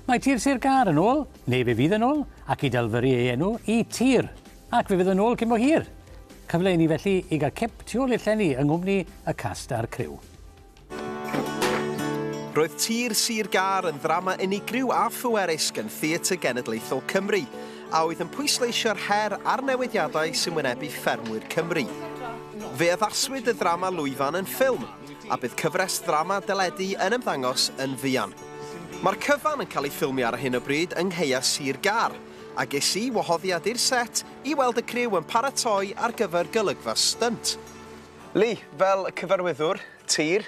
Mae tir Sir Gâr yn ôl, neu fe fydd yn ôl, ac i dalfyru ei enw i tir. Ac fe fydd yn ôl cyn bo hir! Cyfle i ni felly i gael cip tu ôl i'r llenni yng nghwmni y cast a'r criw. Roedd Tir Sir Gâr yn ddrama unigryw a phwerus gan Theatr Genedlaethol Cymru, a oedd yn pwysleisio'r her a'r newidiadau sy'n wynebu ffermwyr Cymru. Fe addaswyd y ddrama lwyfan yn ffilm, a bydd cyfres ddrama deledu yn ymddangos yn fuan. Mae'r cyfan yn cael ei ffilmio ar hyn o bryd yng Nghaea Sir Gâr, a ges i wahoddiad i'r set i weld y criw yn paratoi ar gyfer golygfa stynt. Lee, fel cyfarwyddwr tir,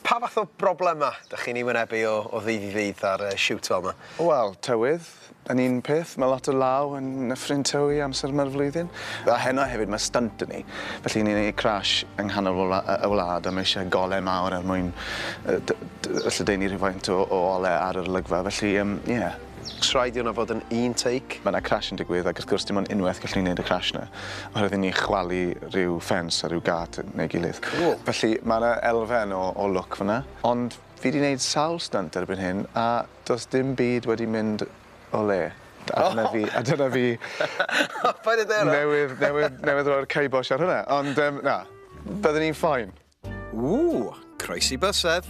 pa fath o broblemau dych chi'n eu wynebu o ddydd i ddydd ar y siwt fel yma? Wel, tywydd, Yn un peth, mae lot o law yn Nyffryn Tywi amser yma'r flwyddyn. A heno hefyd, mae stynt 'da ni, felly ni'n neud crash yng nghanol y wla- y wlad a mae isie gole mawr er mwyn yy d- d- yy lledaenu rhywfaint o o ole ar yr olygfa, felly yym ie. O's rhaid i hwnna fod yn un take? Mae 'na crash yn digwydd ac wrth gwrs dim ond unwaith gallwn ni neud y crash 'na oherwydd i ni chwalu rhyw ffens a rhyw gât neu gilydd. Cŵl. Felly, mae 'na elfen o o lwc fan 'na, ond Fi 'di neud sawl stynt erbyn hyn a does dim byd wedi mynd o le. A dyna fi a dyna fi Paid â deu hwnna! newydd newydd newydd roi'r ceibosh ar hwnna, ond yym na, byddwn i'n fine. Ww! Croesi bysedd!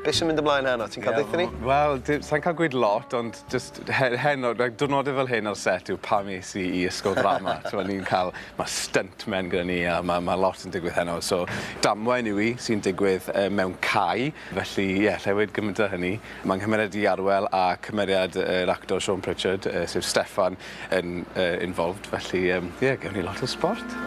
Be' sy'n mynd ymlaen heno? Ti'n ca'l deutha ni? Wel, d- sai'n ca'l gweud lot ond Jyst he- heno, like, diwrnodau fel hyn ar set yw pam es i i ysgol ddrama. T'mo' ni'n cael, ma' stuntmen gyda ni a ma' ma' lot yn digwydd heno. So damwain yw 'i sy'n digwydd yy mewn cae, felly ie, allai weud gymaint o hynny. Mae 'nghymeriad i Arwel a cymeriad yr actor Siôn Pritchard yy sef Steffan yn yy involved felly yym ie gewn ni lot o sbort.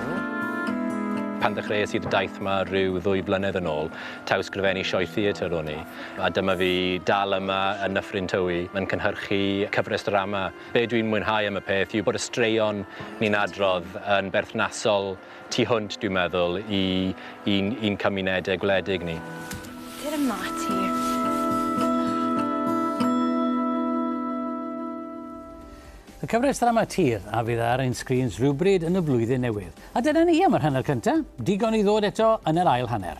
Pan ddechreuais i fy daith 'ma ryw ddwy flynedd yn ôl taw sgrifennu sioe theatr o'n i a dyma fi dal yma yn Nyffryn Tywi yn cynhyrchu cyfres ddrama. Be' dwi'n mwynhau am y peth yw bod y straeon ni'n adrodd yn berthnasol tu hwnt dwi'n meddwl i i'n i'n cymunede gwledig ni. Cer ymla ti. Y cyfres ddrama tir a fydd ar ein sgrîns rhywbryd yn y flwyddyn newydd. A dyna ni am yr hanner cynta'. Digon i ddod eto yn yr ail hanner.